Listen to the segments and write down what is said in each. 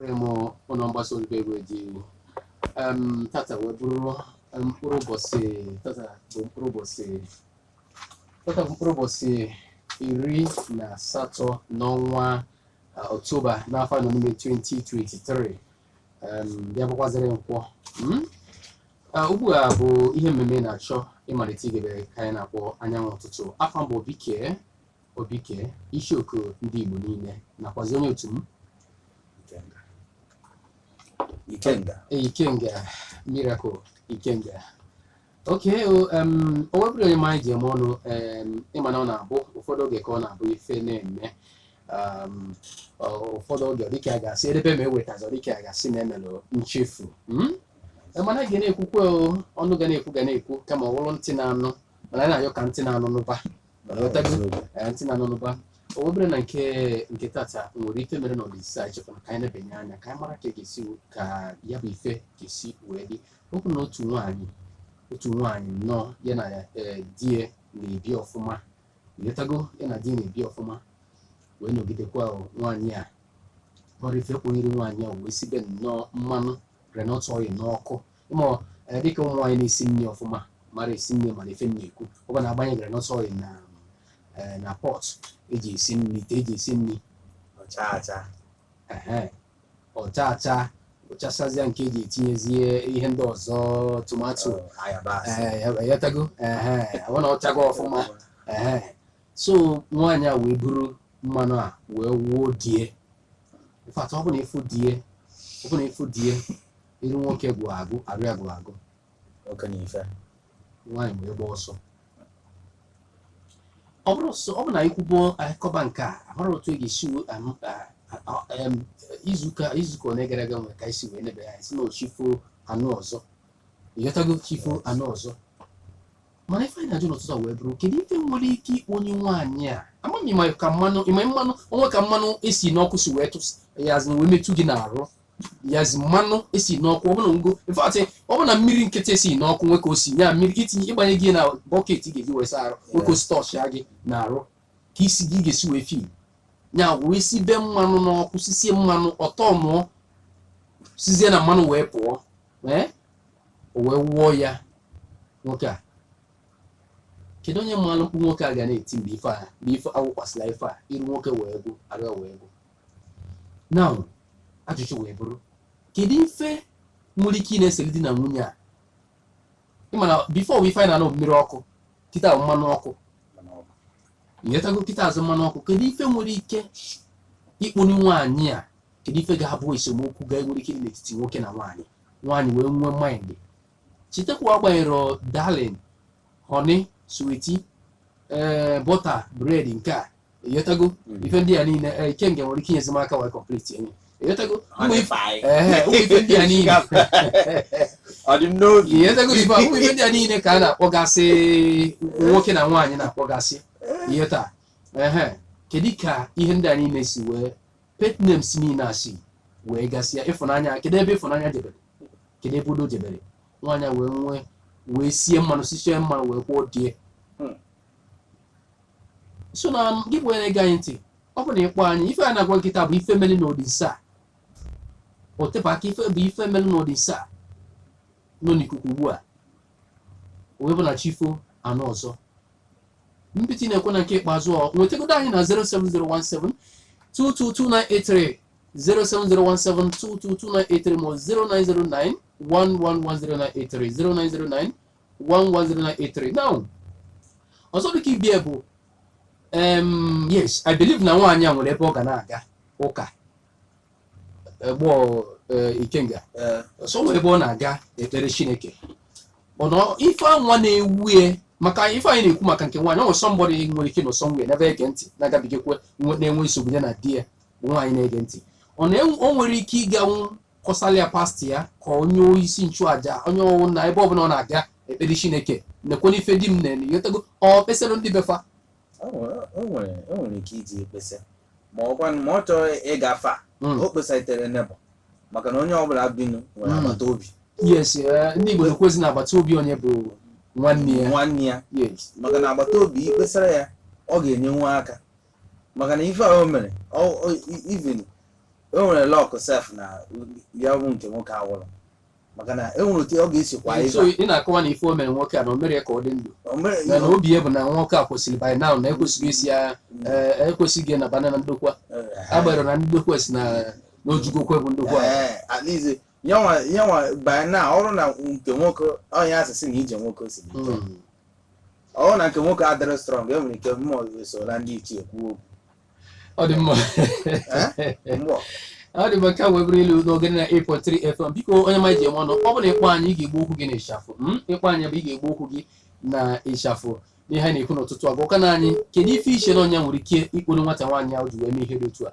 m ụnọ mgbasa ozi bụ egwe ji em tata wee bụrụ em, mkpụrụ ụbọchị tata bụ mkpụrụ ụbọchị tata bụ mkpụrụ ụbọchị iri na asatọ n'ọnwa Ọktoba n'afọ a nọ n'ime 2023 em, bịa bụkwazịrị Nkwọ mm? Ah, ugbu a bụ ihe mmemme na-achọ ịmalite igebe ka anyị na-akpọ Anyanwụ Ụtụtụ afa m bụ Obike Obike Ichoku ndị Igbo niile nakwazi onye otu m Ikenga Ikenga Miracle Ikenga okay o wee bụrụ onye ma anyị ji eme ọnụ ị ma na ọ na-abụ ụfọdụ oge ka ọ na-abụ ife na-eme ụfọdụ oge dịka a ga-asị edebe ma ewetazi dịka a ga-asị na e melụ nchefu hmm? mana ga na-ekwukwe ọnụ ga na-ekwu ga na-ekwu kama ọ bụrụ ntị na-anụ mana na-ayọ ka ntị na-anụ n'ụba o wee bụrụ na nke nke tata nwere ife mere na olise a chekwa ka anyị nebanye anya ka anyị mara ka e ga-esi ka ya bụ ife ga-esi wee dị ọ bụ na otu nwaanyị otu nwaanyị nnọọ ya na eh, di ya na-ebi ọfụma ị ghọtago ya na di ya na-ebi ọfụma wee nọgidekwa o, nwaanyị a ọrụ ife kponyere nwaanyị a wee sibe nnọọ mmanụ groundnut oil n'ọkụ ị ma eh, dịka ụmụ nwaanyị na-esi nri ọfụma mara esi nri mana ife m na-ekwu ọ bụ na a gbanye groundnut oil na eh, na pọt eji esi nri ite eji esi nri ọ chaa acha ehe, ọ chaa acha ọ chasazịa nke eji etinyezie ihe ndị ọzọ tomato ayabasị eh, ị ghọtago ehe, ọ na ọ chago ọfụma ehe. so nwaanyị a wee buru mmanụ a wee wụọ di e in fact ọ bụ na ị fụ di e ọ bụ na ị fụ di e iru nwoke gwụ agụ arụ ya gwụ agụ oke na ife nwaanyị wee gba ọsọ ọ bụrụ sọ ọ bụ na ikwubo akọba nke a amara otu e ga-esi wee am- a- a- em, izuụka izuụka ole gara aga nwere ka e si wee nebe ya sị na ọ chi foo a nụ ọzọ ị ghọtago chi foo a nụ ọzọ mana ife anyị na-ajụ n'ụtụtụ a wee bụrụ kedu ife nwere ike ikponye nwaanyị a amaghị ma ka mmanụ ị ma mmanụ o nwe ka mmanụ esi n'ọkụ si wee tụs ya azụ wee metụ gị n'arụ yazi mmanụ esi n'ọkụ ọbụna ngo in fact ọbụna mmiri nkịtị esi n'ọkụ nwe ka o si ya mmiri ka itinye ịgbanye gị na bucket ị ga-eji wee saa arụ nwe ka o si tọchịa gị n'arụ ka i si gị ga-esi wee feel ya wee sibe mmanụ n'ọkụ sisie mmanụ ọtọ mụọ sizie na mmanụ wee pụọ ee o wee wụọ ya nwoke a kedu onye malụ mkpu nwoke a ga na-eti mgbe ife a mgbe ife awụkwasịla ife a iru nwoke wee gwụ arụ wee gwụ na ajụjụ wee bụrụ kedu ife nwere ike ịna-esere di na nwunye a ị ma na before wee ife anyị na-anụ mmiri ọkụ kịta bụ mmanụ ọkụ nyetago kịta azụ mmanụ ọkụ kedu ife nwere ike ikponi nwaanyị a kedu ife ga-abụ esemokwu ga-enwere ike dị n'etiti nwoke na nwaanyị nwaanyị wee nwee mind chetakwa agbanyerọ darling honey sweetie ee butter bread nke a ịghọtago Mm. ife ndị a niile ee, Ikenga nwere ike inyezi m aka wee complete enye ịghọtago ụmụ ife ehe, ụmụ ife ndị a niile ọ dị m n'obi ịghọtago ife a, ụmụ ife ndị a niile ka a na-akpọgasị nwoke na nwaanyị na-akpọgasị ịghọta ehe kedu ka ihe ndị a niile si wee pet names niile a si wee gasịa ịfụnanya kedu ebe ịfụnanya jebere kedu ebe udo jebere nwaanyị wee nwee wee sie mmanụ sisie mmanụ wee kwụọ di ya hmm. so na gị bụ onye na-ege anyị ntị ọ bụ na ị kpọọ anyị ife a na-agwa gị kịta bụ ife mere n'ọdịnso a o tebe aka ife bụ ife mere n'ọdịnso a nọ n'ikuku ugbu a wee bụ na chi fo a nụ ọzọ mbiti na-ekwe na nke ikpeazụ nwetagodo anyị na 07017 222 983 07017222983 ma ọ 0909 110983 0909 110983 now ọzọ dịka ibe ya bụ em yes I believe na nwaanyị a nwere ebe ọ ga na-aga ụka gbọ Ikenga Ee, so nwere ebe ọ na-aga ekpere Chineke ọ nọ ife nwa na-ewu ya maka ife anyị na-ekwu maka nke nwaanyị ọ nwere somebody nwere ike nọ somewhere n'ebe ege ntị na-agabigakwa nwe- na-enwe nsogbu ya na di ya bụ nwaanyị na-ege ntị ọ na o nwere ike ịganwu kọsara ya pastor ya ka onye isi nchụaja onye ọwụna ebe ọbụla ọ na-aga ekpere Chineke nekwanụ ife di m na-eme ịghọtago o kpesarọ ndị be fa O nwere- o nwere o nwere ike iji ekpesa ma ọ kwanụ ma ọ chọrọ ịgwa fa Mm. o kpesaitere neighbour maka na onye ọbụla binu nwere Mm. agbata obi yes eh, ndị Igbo na-ekwuzi na agbata obi onye bụ nwanne ya nwanne ya yes maka na agbata obi i kpesara ya ọ ga-enyenwu aka maka na ife ahụ mere even o nwere luck sef na ya bụ nke nwoke anwụrọ maka na e nwere otu ọ ga-esi kwa so ị na-akọwa na ife o mere nwoke a na o mere ka ọ dị ndụ mana obi ya bụ na nwoke a kwesịrị by now na e kwesịrị isi ya eh, e kwesịrị na bana na ndokwa agbanyerọ na ndokwa sị na na o jugokwe bụ ndokwa eh, at least ya nwa ya nwa by now ọrụ na nke nwoke onye asị sị na ije nwoke si dị ike. ọrụ na nke nwoke adịrọ strong e nwere ike mmụọ esola ndị ichie kwuo okwu ọ dị mma Eh? Mmụọ. ọ dị mma ka wee bụrụ ilu n'Ogene 98.3 FM biko onye ma ji enwe ọnụ ọ bụ na ị kpọọ anyị ị ga-egbu okwu gị na ịchafụ mm? ị kpọọ anyị bụ ị ga-egbu okwu gị na ịchafụ n'ihe anyị na-ekwu n'ụtụtụ a gwakene anyị kedu ife i che na onye nwere ike ikporo nwata nwaanyị ahụ ji wee mee ihe dị otu a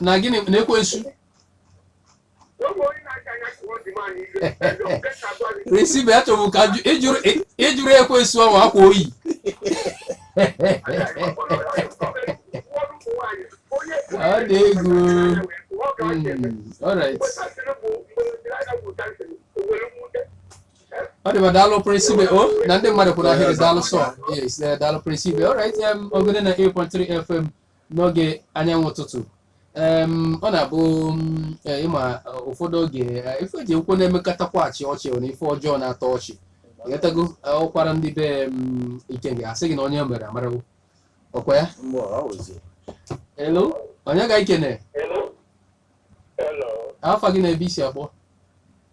na gịnị na ekwensu prince ibe achọbụ ka ajụ- ịjụrụ ị- ịjụrụ ekwensu ahụ akwa oyi ọ dị egwu Mm, alright ọ dị ma daalụ prince ibe o na ndị mmadụ kwụrụ ahịrị daalụ sọ yes eh, daalụ prince ibe alright em ogene 98.3 fm n'oge anyanwụ ụtụtụ em ọ na-abụ mm, eh, ịma eh, ụfọdụ oge eh, ife eji ekwu na emekatakwa achịa ọchị ọ na ife ọjọọ na-atọ ọchị ghọtago eh, ọkwara ndị be mm, ikenga asị gị na onye mere amarawo ọkwa ya Mgbe ọ wụzi. hello onye ga ikene Hello. Hello. afa gị na ebe i si akpọ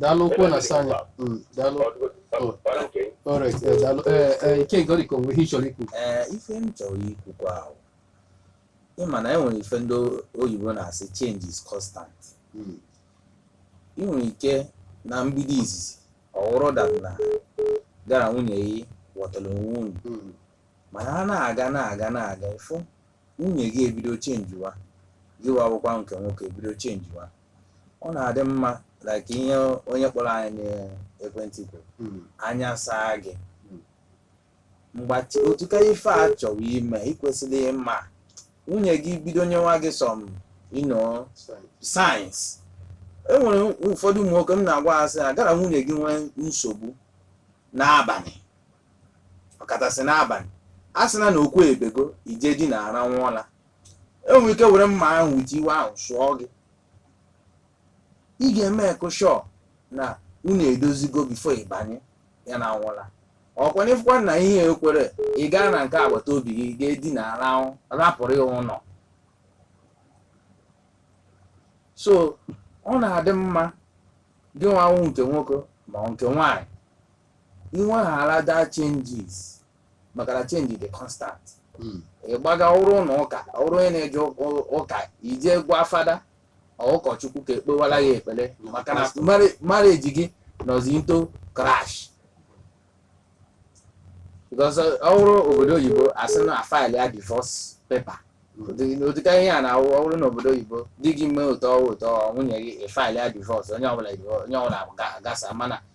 daalụ okwu na-asa anya mm, daalụ oh, alright eh, daalụ eh, eh, ike goriko nwe ihe ị chọrọ ikwu ife m chọrọ ikwukwa ahụ ịma na enwere ife ndị oyibo na-asị change is constant hmm. ị nwere ike na mbido izizi ọ wụrụ that na gara nwunye gị wọtara onwe unu hmm. mana a na-aga na-aga na-aga ịfụ nwunye gị ebido changewa gịwa wụkwa nke nwoke ebido changewa ọ na-adị mma like ihe onye kpọrọ anyị n'ekwentị kwuru Mm. anya saa gị Mm. mgbe otuka ife a chọrọ ime ị kwesịrị ịma nwunye gị bido nyewa gị some you know Sorry. signs enwere ụfọdụ ụmụ nwoke m na-agwa ha sị na gara nwunye gị nwee nsogbu n'abalị ọkachasị n'abalị a sị na na okwu ebego ije dinara n'ụla enwe ike were mma ahụ with iwe ahụ sụọ gị ị ga-emake sure na unu edozigo before ịbanye ya na n'ụla ọkwa n'ịfụkwa na ihe ekwerọ ị gaa na nke agbata obi gị gaa dinara rapụrụ ya ụlọ so ọ na-adị mma gịnwa wụ nke nwoke ma ọ nke nwaanyị inweghara that changes maka na change dị constant Mm. ịgbaga ọ wụrụ ụlọ ụka ọ wụrụ onye na-eje ụka- ụka ije gwa fada ọ ụkọchukwu ka ekpewara ya ekpere maka na mari- marriage gị nọzi into crash because ọ wụrụ obodo oyibo asị na a file ya divorce paper Ụdị- ụdịka ihe a na ọ wụrụ n'obodo oyibo di gị mee ụtọ ọwụ ụtọ nwunye gị file ya divorce onye ọbụla onye ọbụla ga- gasa mana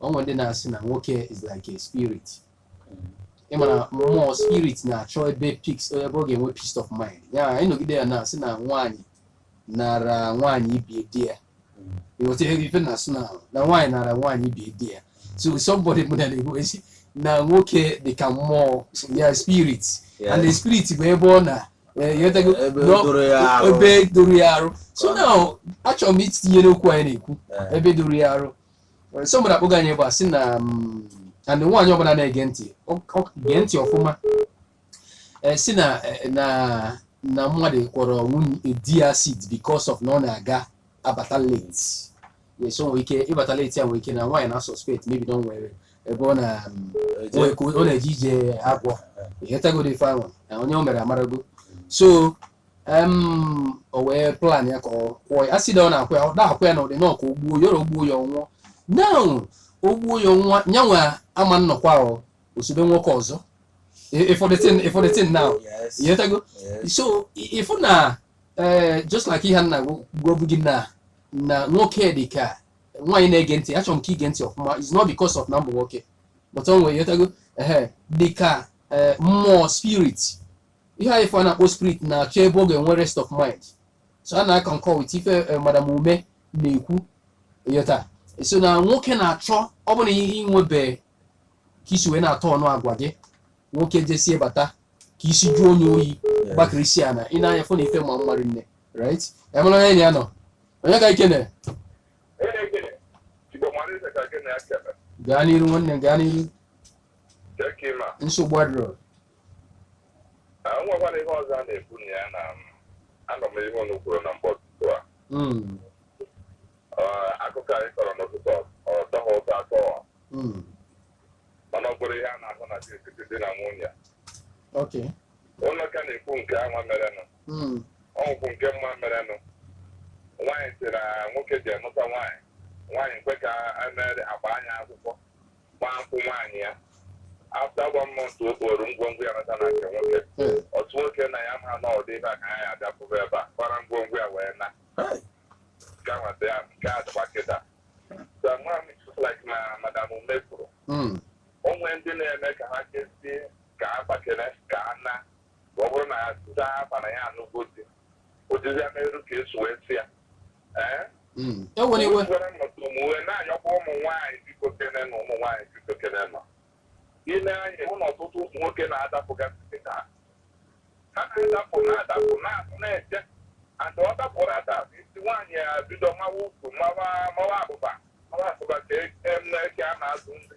o nwe ndị na-asị na nwoke is like a spirit ịmara mmụọ spirit na-achọ ebe peace ebe ọ ga-enwe peace of mind ya ịnọgide ya na-asị na nwaanyị nara nwaanyị ibie di ya ịghọta ihe ife m na-asị na na nwaanyị nara nwaanyị ibie di ya so somebody mụ na na-ekwu sị na nwoke dị ka mmụọ ya spirit Yeah. and the spirit bụ ebe ọ na eh, ịghọtago? Ebe Nọ- doro ya arụ. ebe doro ya arụ so now achọrọ m itinye n'okwu anyị na-ekwu Eh. ebe doro ya arụ somebody akpọga anyị ebe a sị na mm, and nwaanyị ọbụla na-ege ntị ọ- ọ- gee ntị ọfụma Eh, sị na eh, na na mmadụ kwọrọ nwunye di ya acid because of na ọ na-aga abata late yes o nwere ike ịbata late ya nwere ike na nwaanyị na suspect maybe na o nwere ebe ọ na mm, o nwere ka ọ na-eje ije agwọ ịghọtagoro ife ahụ na onye o mere amarago so em o wee plan ya ka ọ kwụọ ya acid na ọ na-akwụ ya ọ na-akwụ ya na ụdị nọọ ka o gbuo ya o gbuo ya ọ nwụọ now o gbuo ya ọ nwụọ nyanwa ama nọkwa ahụ o sobe nwoke ọzọ ịfụ the thing ịfụ the thing now Yes. ịghọtago Yes. so ị- ịfụ na eh, just like ihe m na-agwabu gị na na nwoke dị ka nwaanyị na-ege ntị achọrọ m ka i gee ntị ọfụma it's not because of na m bụ nwoke but o nwere ịghọtago ehe dị ka eh, mmụọ spirit ihe anyị ife a na-akpọ spirit na-achọ ebe ọ ga-enwe rest of mind so ana m a-concur with ife eh, madam Ume na-ekwu ịghọta so na nwoke na-achọ ọ bụrụ na ihe i nwebe ka i si wee na-atọ ọnụ agwa gị nwoke jesie bata ka isi jụọ onye oyi gbakiri isi ana ị na-anya fụ na ife ma mmadụ nne right emere onye enyi ya nọ onye ka ike na Elekere, Igbo mara eze ka gị na ya kere. gaa n'iru nwanne m, gaa n'iru Jee ka ị ma. nsogbu adịrọ Ah, o nwekwara ihe ọzọ a na-ekwu na ya na m, anụ m ihe unu kwuru na mgbe ụtụtụ a Mm, Ah, akụkọ anyị kọrọ n'ụtụtụ ọ tọghị ụtọ atọ mm, mana ọ bụrụ ihe a na-ahụ na etiti di na nwunye ok ụlọ ka na-ekwu nke anwa merenụ Mm, o nwekwu nke m ma merenụ nwaanyị sị na nwoke jee nụta nwaanyị nwaanyị kwe ka e mere a gbaa nya akwụkwọ gbaa nkwụ nwaanyị ya after one month o kporo ngwongwo ya nata na nke nwoke Hey. otu nwoke na ya ma na ọdị ebe a ka anyị adapụba ebe a gbara ngwongwo ya wee na Hey. gawata ya nke a dịkwa kịta so nwa m like na madam Ume kwuru Mm. o nwe ndị na-eme ka ha kezie ka a gbakere ka a na ọ bụrụ na ya zaa afa na ya anụgo di ụdịzi ya merụ ka esi wee si ya ewere iwe wee na-ayọkwa ụmụ nwaanyị biko kene na ụmụ nwaanyị biko kene na ị lee anya hụ na ọtụtụ ụmụ nwoke na-adapụgasị ha ha na-adapụ na-adapụ na-atụ na-eche and ọ dapụrụ adapụ isi nwaanyị ya bido mawa ukwu mawa mawa abụba mawa abụba ka eke a na-azụ ndị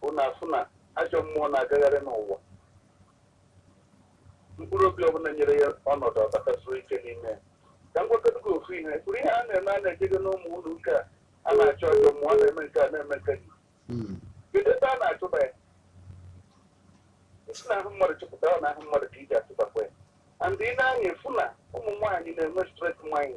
bụ na a fụ na ajọ mmụọ na-agagharị n'ụwa mkpụrụ obi ọbụla nyere ya ọnọdụ ọ batasie ike n'ime ya ka m gwagodu gị ofu ihe kwuru ihe a na-eme a na-ejego n'ụmụ ụlọ ụka a na-achụ ajọ mmụọ a na-eme nke a na-eme nke gị Mm. kedu ebe a na-achụba ya i si n'ahụ mmadụ chụpụta ọ n'ahụ mmadụ ka e ji achụbakwa ya and ị nee anya ị fụ na ụmụ nwaanyị na-enwe straight mind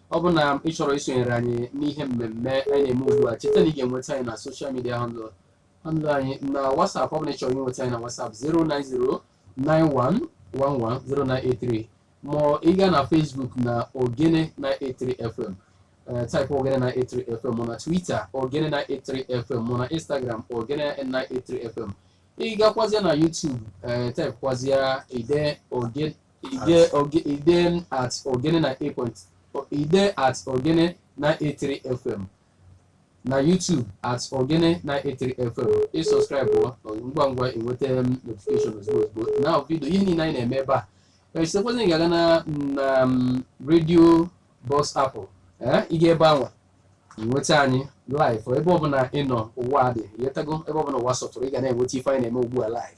ọ bụ na ị chọrọ isonyere anyị n'ihe mmemme anyị na-eme ugbu a cheta na ị ga-enweta anyị na social media handle handle anyị na whatsapp ọ bụ na ị chọrọ inweta anyị na whatsapp 09091110983 ma ị gaa na facebook na ogene 983 fm eh, type ogene 983 fm ma na twitter ogene 983 fm ma na instagram ogene 983 fm ị gakwazịa na youtube eh, type kwazịa ide ogene Ide oge- ide m at ogene 98 ide at ogene 983 fm na youtube at ogene 983 fm ị subscribe ngwa ngwa enweta m notification ozugbo ozugbo na video ihe niile anyị na-eme ebe a echetakwazị na ị ga-aga na na m, radio box app ị ga ebe anwa nweta anyị live ebe ọbụla ị nọ n'ụwa dị ịghọtago ebe ọbụla ụwa sọtụrụ ị ga na-enweta ife anyị na-eme ugbu a live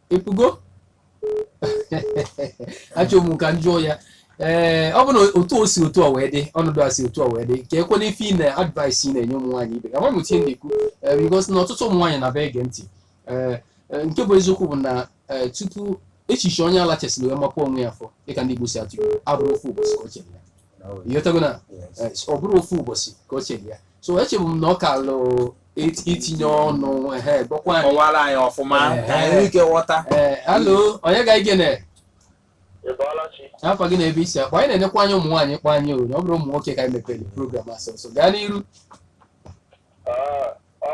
ị fụgo achọ m ka m jụọ ya ee eh, ọ bụ na otu o si otu a wee dị ọnọdụ a si otu a wee dị keekwanụ ife ị na advice ị na-enye ụmụ nwaanyị ibe ama m ihe na-ekwu eh, because na ọtụtụ ụmụ nwaanyị na-abịa ege ntị eh, nke bụ eziokwu bụ na tupu echiche onye ala chesịrị wee mapụ onwe ya afọ dịka ndị Igbo si atụ abụrọ ofu ụbọchị ka o chere ya ịghọtago na eh, ọ bụrọ ofu ụbọchị ka o chere ya so echebu m na ọ kaalụ it- itinye ọnụ ehe gbakwa anyị kọwara anyị ọfụma Eh, ka anyị nwee ike ghọta ee hello onye ga igene Ị bọọla chi? afa gị na ebe i si akpọ anyị na-enekwa anya ụmụ nwaanyị kpọ anyị o na ọ bụrọ ụmụ nwoke ka anyị mepere program a sọsọ gaa n'iru Ah, ọ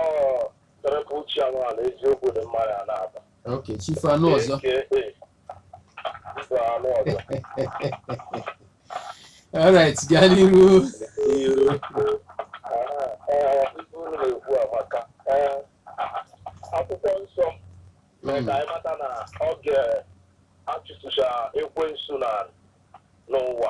tụrụpụ uche anụ ala eziokwu dị mma ya na-aba. ok chief anụ ọzọ alright gaa n'iru akwụkwọ nsọ mee ka anyị mata na oge a chụtụcha ekwensu na n'ụwa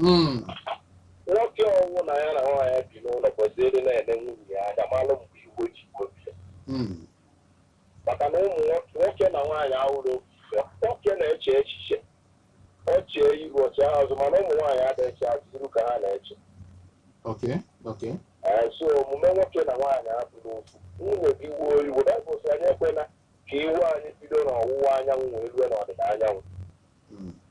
hmm. nwoke ọwụ na ya na nwaanyị bi n'ụlọ kwesịrị na-ele nwunye ya anya malụ mgbe iwu ji obi hmm. maka na ụmụ nwoke na nwaanyị ahụrụ nwoke na-eche echiche ọ chee iru ọchị azụ mana ụmụ nwaanyị adịghị azụ iru ka ha na-eche so omume nwoke na nwaanyị abụrụ ofu nwunye gị wuo iwu baịbụl si anyị ekwela ka iwu anyị bido n'ọwụwa anyanwụ wee rue n'ọdịda anyanwụ hmm.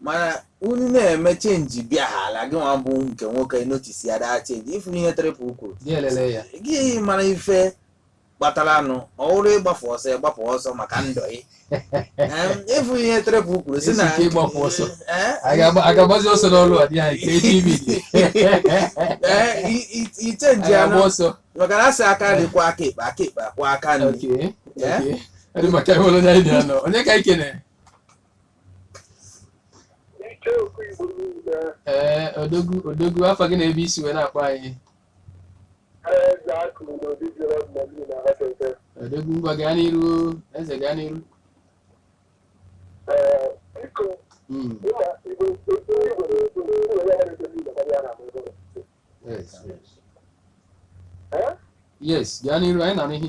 mana unu na-eme change bịa ha ala gị nwa bụ nke nwoke notice ya daa change ifuru ihe Triple kwuru gị mara ife kpataranụ ọ wụrụ ịgbafụ ọsọ ịgbapụ ọsọ maka ndụ gị ịfụ ihe Triple kwuru si na ịgbapụ ọsọ agagbazi ọsọ n'ọlụ a dị anyị ka eji ibi ichenji anụ ọsọ maka na asị aka nri kwọọ aka ekpe aka ekpe akwọọ aka nri onye ka ikene ee odogwu odogwu afa gị na ebe i si wee na-akpọ anyị odogwu ngwa gaa n'iru eze gaa n'iru Mm, yes, yes. yes gaa n'iru anyị na-anụ ihe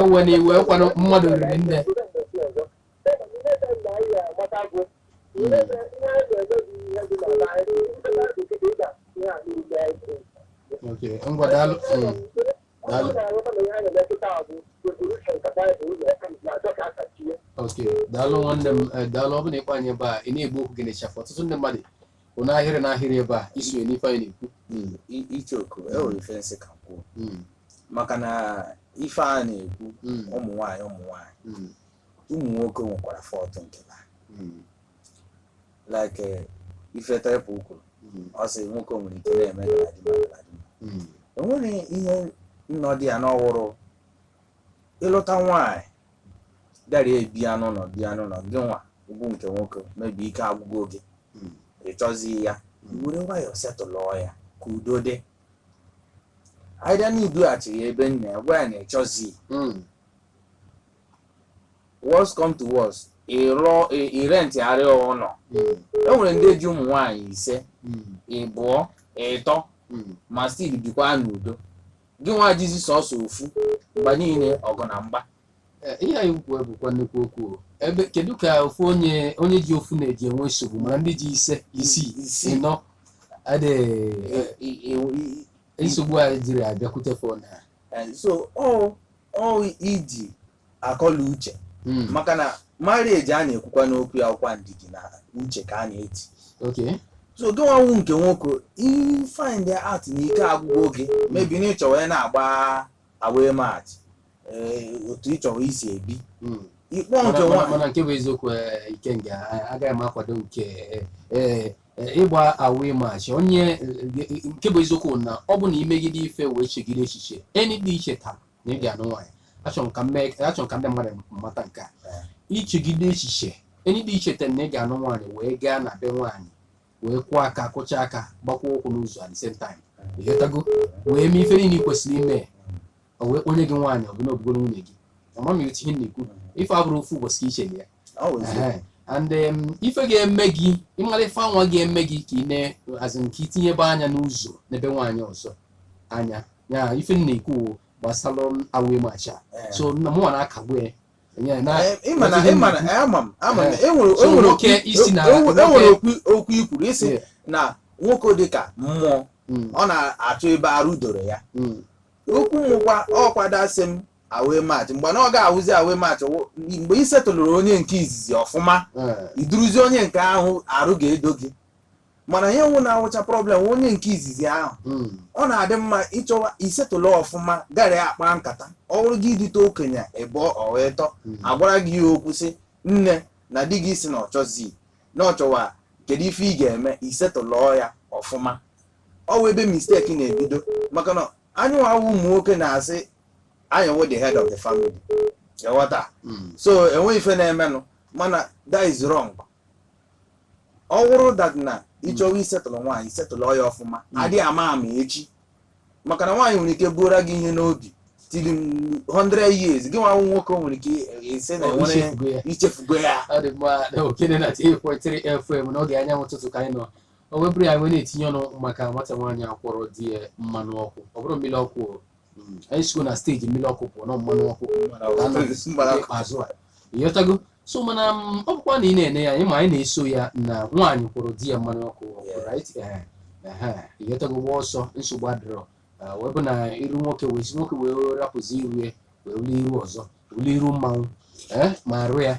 ewe na iwe kwanụ mmadụ riri nne Okay, ngwa daalụ. Mm, Daalụ. Okay, daalụ nwanne m eh, daalụ ọ bụ na ị kpọọ anyị ebe a ị na-ekwu okwu gị ị na-achafụ ọtụtụ ndị mmadụ kwụ n'ahịrị n'ahịrị ebe a isonye n'ife anyị na-ekwu Mm, i- ichoku enwere ife m sị ka m kwuo mm, maka na ife a na-ekwu mm, ụmụ nwaanyị ụmụ nwaanyị mm, ụmụ nwoke nwekwara fault nke ha mm, like eh, ife Triple kwuru mm, ọ sị nwoke nwere ike na-eme galadima galadima mm, enwere ihe nnọọ dị ya na ọ wụrụ ị lụta nwaanyị bịara ebia n'ụlọ bịa n'ụlọ gị nwa bụ nke nwoke mebe ike agwụgo gị Mm. ị chọzii ya were nwayọọ setụlụọ ya ka udo dị either na i dughachi ya ebe nna ya gwa ya na ị chọzii Mm. worst come to worst ịrụọ ị- ị rentịara ya ụlọ Mm. e nwere ndị ji ụmụ nwaanyị ise Mm. ịbụọ ịtọ Mm. ma still bikwa n'udo gị nwa jizi sọsọ ofu mgbe niile ọgụ na mgba Eh, ihe a i kwuru bụkwa nnukwu okwu o. ebe kedu ka ofu onye onye ji ofu na-eji enwe nsogbu mana ndị ji ise isii Isii. ịnọ adịghị I- i- i- i- nsogbu adịghị abịakwute fa nwa Eh, so ọ ọ iji akọ na uche Mm. maka na marriage a na-ekwukwa n'okwu ya ọkwa ndidi na uche ka a na-eji Okay. so gị nwa wụ nke nwoke ị find out na ike agwụgo gị maybe na ịchọwa ị na-agba away match ee, otu ịchọwa isi ebi Mm. ikpọ nke Mana- mana nwa mana nke bụ eziokwu eh, Ikenga a- agaghị m akwado nke eh, eh, eh, ịgba away match onye eh, eh, nke bụ eziokwu na ọ bụ na imegide ife wee chegide echiche and icheta na ị ga-anụ nwaanyị achọrọ m ka m mee achọrọ m ka ndị mmadụ mata nke a ichegide echiche and icheta na ị ga-anụ nwaanyị wee gaa na be nwaanyị wee kụọ aka kụchaa aka gbakwuo ụkwụ n'ụzọ at the same time ịghọtago wee mee ife niile ị kwesịrị ime o wee kponye gị nwaanyị ọ bụ na ọ bụgoro nwunye gị ama m etu ihe m na-ekwu ife abụrọ ofu ụbọchị ka iche na ya Ọ bụ eziokwu. Ehe. and um, ife ga-eme gị ịmara ife anwa ga-eme gị ka ị na-azụ nke itinyebe anya n'ụzọ n'ebe nwaanyị ọzọ anya ya ife m na-ekwu gbasara away match a Eh. so na mụnwa na-akagbu ya Yeah, na- Eh, ị ma na- ị ma na- eh, ama m ama m na e nwere So, e nwere nwoke okwu- ị sị na- e nwere- e nwere nwoke- okwu okwu i kwuru ị sị Yeah. na nwoke dị ka mmụọ Mm, ọ na-achọ ebe arụ doro ya mm, okwu wụkwa ọkwada sị m away match mgbe na ọ ga-awụzi away match mgbe ị setụlụrụ onye nke izizi ọfụma eh, iduruzi onye nke ahụ arụ ga-edo gị mana ihe nwụ na-awụcha problem wụ onye nke izizi ahụ Mm. ọ na-adị mma ịchọwa isetụlụ ọfụma gị na ya akpa nkata ọ bụrụ gị idute okenye ịbụọ ọ wụ ịtọ Mm. agwara gị ya okwu sị nne na di gị sị na ọ chọzi na ọ chọwa kedu ife ị ga-eme isetụlụọ ya ọfụma ọ wụ ebe mistake na-ebido maka na anyị nwawa ụmụ nwoke na-asị anyị wụ the head of the family ghọta Mm. so enweghị ife na-emenụ mana that is wrong ọ wụrụ that na ịchọwa isetụlụ nwaanyị setụlụ ya ọfụma adịghị ama ama echi maka na nwaanyị nwere ike bura gị ihe n'obi till 100 years gị nwa nwoke o nwere ike ị sị na Ọ enwere ichefugo ya. ichefugo ya ọ dị mma na Ogene 98.3 fm n'oge anyanwụ ụtụtụ ka anyị nọ wee buru ya wee na-etinye ọnụ maka nwata nwaanyị a kwọrọ di ya mmanụ ọkụ ọ bụrụ mmiri ọkụ o, Mm, anyị sigo na stage mmiri ọkụ pụọ na mmanụ ọkụ ikpeazụ a ịghọtago so mana m, ọ bụkwa na ị na-ene ya anya ma anyị na-eso ya na nwaanyị kwọrọ di ya mmanụ ọkụ ọkụ, Yeah. right? Ehe, ehe, ịghọtago gba ọsọ nsogbu adịrọ Ah, wee bụ na iru nwoke wee si nwoke wee rapụzi iru ya wee wuli iru ọzọ wuli iru mmanwụ eh, ma arụ ya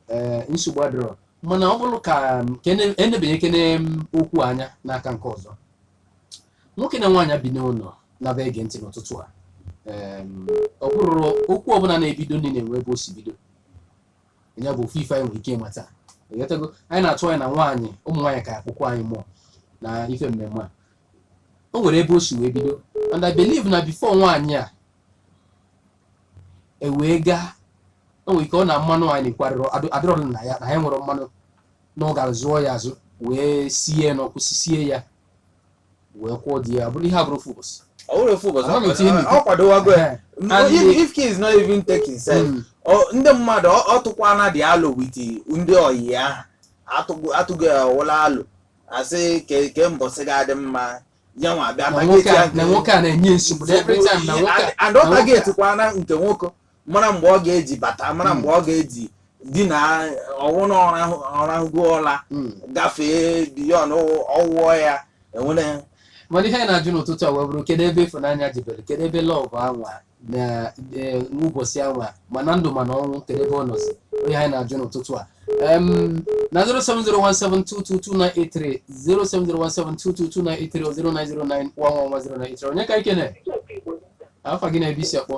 eh, nsogbu adịrọ mana ọ bụrụ ka m, kene- enebanyekene okwu anya n'aka nke ọzọ nwoke na nwaanyị bi n'ụlọ na-aba ege ntị n'ụtụtụ a ọ bụrụ okwu ọbụla na-ebido ndị na-enwe ebe o si bido ya bụ ofu ife anyị nwere ike ịmata ịghọtago anyị na-atụ anya na nwaanyị ụmụ nwaanyị ka akwụkwọ anyị mụọ na ife mmemme a o nwere ebe o si wee bido and I believe na before nwaanyị a ewee gaa o nwere ike ọ na mmanụ anyị na-ekwurịrị adịrọdụ na ya na ya nwere mmanụ na ọ gara zụọ ya azụ wee sie ya n'ọkụ sisie ya wee kwụọ di ya ọ bụrọ ihe abụrọ ofu ụbọchị ọ bụrọ ofu ụbọchị Ama m etinye n'ite. ọ kwadowago ya Eh, M- and if the- if care is not even taken self mm, ọ- ndị mmadụ ọ- ọ tụkwana dị alo with ndị ọyị ya atụgo atụgo ya ọwụla alo a sị kee kee mbọsị ga-adị mma ya nwa abịa na nwoke a- na nwoke a na-enye nsogbu na every time na nwoke a- and na ọ nwoke a- targetkwana nke nwoke mara mgbe ọ ga-eji bata mara mgbe ọ ga-eji dina ọ wụ na ọ rahụgo ụla hmm. gafee beyond ọ wụọ ya enwere mana ihe anyị na-ajụ n'ụtụtụ a wee bụrụ kedu ebe ịfụnanya jebere kedu ebe love anwa na e, ụbọchị anwa ma na ndụ ma na ọnwụ kedu ebe ọ nọzi ọ ihe anyị na-ajụ n'ụtụtụ a na 07017222983 07017222983 onye ka ikene afa gị na ebe i si akpọ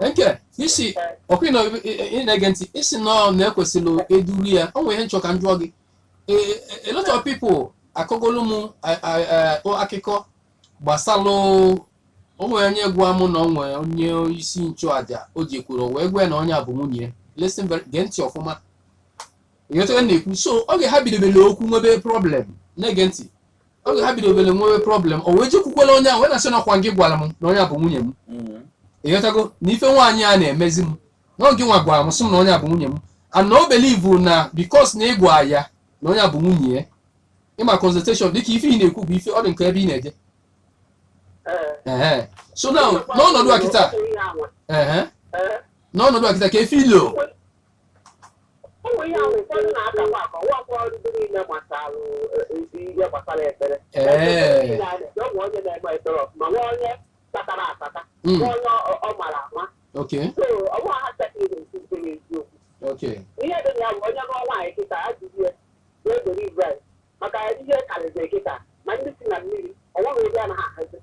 Nkechi okay ịnọ ị na-ege ntị ị sị na ọ na ekwesịrị eduru ya o nwere ihe m chọ ka m jụọ gị Eh, eh, a lot of people akọgolu m eh, eh, eh, o- akụkọ gbasalụ o nwere onye gwa mụ na o nwere onye isi nchụaja o jekwuru wee gwa ya na onye a bụ nwunye ya. listen very- gee ntị ọfụma ịghọta ihe m na-ekwu so oge ha bidobere okwu nwebe problem na-ege ntị oge ha bidobere nwebe problem o wee jekwukwara onye ahụ wee na-asị na ọ kwa gị gwara m na onye a bụ nwunye m Mm. ịghọtago na ife nwaanyị a na-emezi m na ọ gị nwa gwara m sị m na onye a bụ nwunye m and na o believe na because na ị gwa ya na onye a bụ nwunye ya ị ma consultation dịka ife ị na-ekwu bụ ife ọ dị nke ebe ị na-eje Ehe. so now n'ọnọdụ a kịta ehe n'ọnọdụ a kịta ka efe ilo ụmụ ihe ahụ ụfọdụ na-akakwa aka ọ wụkwa ọrụ ndị niile gbasara ezi ihe gbasara ekpere Ee. ọ wụ onye na-eme ekpere ọfụma ma onye tatara atata Mm. ma onye ọ- ọ mara ama Okay. so ọ wụ ha sekịrị na-esi nke n'eziokwu Okay. ihe dị na ya bụ onye nụọ nwaanyị kịta a jụrụ ya wee dere ibrahim maka ihe karịziri kịta ma ndị si na mmiri o nweghị ebe anaghị ahazi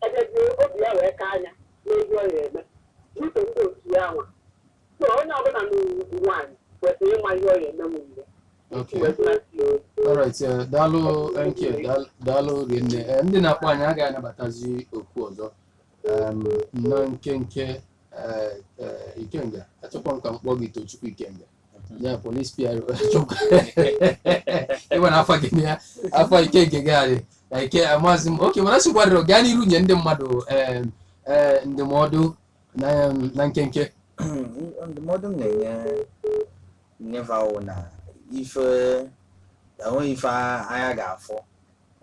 ejezie obi ya wee ka anya n'ezi ọ ya eme n'uche ndị otu ya nwa So onye ọbụla n'ugwu nwaanyị kwesịrị ịma ihe ọ ga-eme m mgbe. Okay. Alright, eh, daalụ NK, daal- daalụ rinne. Eh, ndị na-akpọ anyị agaghị anabatazi oku ọzọ. Em, na nkenke eh, eh, Ikenga, achọkwa m ka m kpọọ gị Tochukwu Ikenga. Ya polis PRO achọkwa. Ịgwa na afa gị na ya, afa Ikenga gị adị. Ike amazi m. Okay, mana sịkwarịrị gaa n'iru nye ndị mmadụ em, eh, ndụmọdụ na na nkenke ndụmọdụ m na-enye fa wụ na ife enweghị ife anya ga-afụ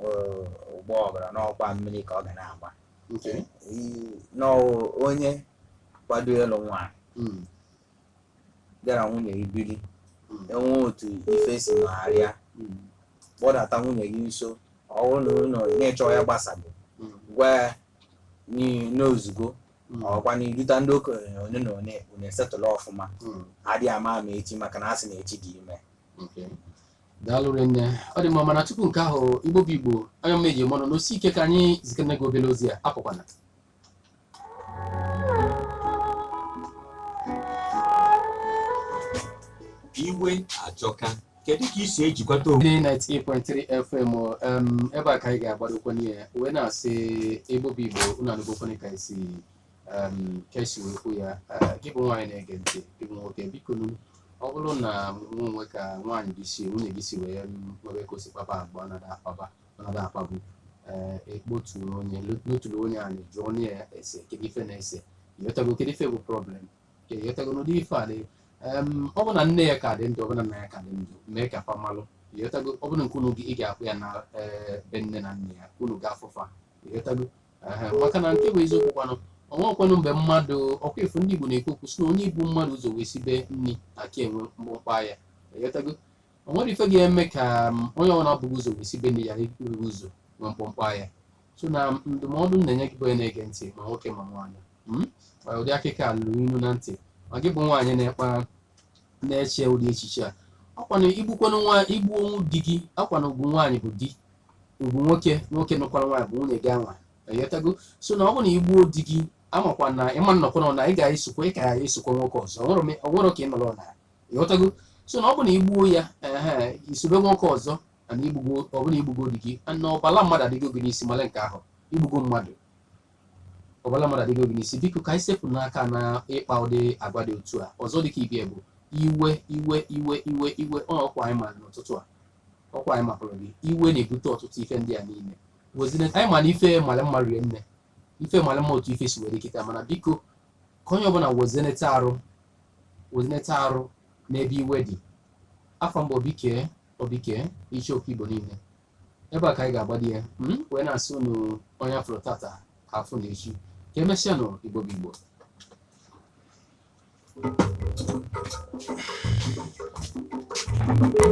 eh, ọ gbaa ọbara n'ọkwa mmiri ka ọ ga na-agba nke I- n'ọwụ onye kwado ịlụ nwaanyị mm, gị na nwunye gị biri mm, enwe otu ife si nọgharịa mm, kpọdata nwunye gị nso ọ bụrụ na ụlọ na-echọ ya gbasago mm. gwa ya n'ozugbo hmm. ọkwa na iduta ndị okenye onye na onye unu esettle ọfụma hmm. adị ama ama echi maka na asị na echi dị ime daalụ rinne ọ dị mma mana tupu nke ahụ igbo bụ igbo onye mma eji eme ọnụ nọsie ike ka anyị zikene gị obere ozi a apụkwana iwe ajọka kedu ka i si ejikwata onwe gị 98.3 fm em, ebe a ka anyị ga-agbadokwa n'ihe wee na-asị igbo bụ igbo unu anụgokwana ka esi em, ka esi wee kwu ya Eh, gị bụ nwaanyị na-ege ntị gị bụ nwoke biko nu ọ bụrụ na nwa o nwee ka nwaanyị gị si nwunye gị si wee m, nwebe ka o si kpaba agwa ọ na-ada akpaba ọ na-ada akpabu ee ị kpọtụrụ onye loturu onye anyị jụọ onye ya ese kedu ife na-ese ịghọtago kedu ife bụ problem ịghọtago n'ụdị ife a na-ekwu em ọ bụ na nne ya ka dị ndụ ọ bụ na nna ya ka dị ndụ mee ka fa malụ ịghọtago ọ bụ na nke unu gị ị ga-akpọ ya na eh, be nne na nna ya ka unu gaa fụ fa ịghọtago Ehe, maka na nke bụ eziokwu kwanụ o nwekwanụ mgbe mmadụ ọkwa ife ndị Igbo na-ekwu okwu si na onye bu mmadụ ụzọ wee sibe nri aka enwe mkpọmkpọ ya ịghọtago o nwere ife ga-eme ka m, onye na-ebughị ụzọ wee sibe nri ya buru ụzọ nwee mkpọmkpọ ya so na ndụmọdụ m na-enye gị bụ onye na-ege ntị ma nwoke ma nwaanyị mm? ma ụdị akụkọ a lụrụ ilu na ntị ma gị bụ nwaanyị na-ekpa na-eche ụdị echiche a ọkwanụ igbukwanụ nwa igbuo di gị ọkwanụ ugwu nwaanyị bụ di ugwu nwoke nwoke nụkwara nwaanyị bụ nwunye gị anwa ịghọtago so na ọ bụ na igbuo di gị amakwa na ịma nnọkwa na ị ga-esokwa ị ka ya esokwa nwoke ọzọ o nwere m- o nwere ka ị nọrọ na ịghọtago so na ọ bụ na igbuo ya ehe isobe nwoke ọzọ ana igbugo ọbụna igbugo di gị na ọbala mmadụ adịgo gị n'isi male nke ahụ igbugo mmadụ ọbala mmadụ adịgo gị n'isi biko ka anyị sepụnụ aka na ịkpa ụdị agwa dị otu a ọzọ dịka ibe ya bụ iwe iwe iwe iwe iwe ọ ọkwa anyị ma n'ụtụtụ a ọkwa anyị mapụrụ gị iwe na-ebute ọtụtụ ife ndị a niile wezina anyị ma na ife male mma rie nne ife male mma otu ife si were kịta mana biko ka onye ọbụla wezinete arụ wezinete arụ n'ebe iwe dị afa m bụ Obike Obike Ichoku Igbo niile ebe a ka anyị ga-agbado ya hmm? wee na-asị unu onye afụrọ tata afụ na echi ka emesịanụ Igbo bụ Igbo Thank you.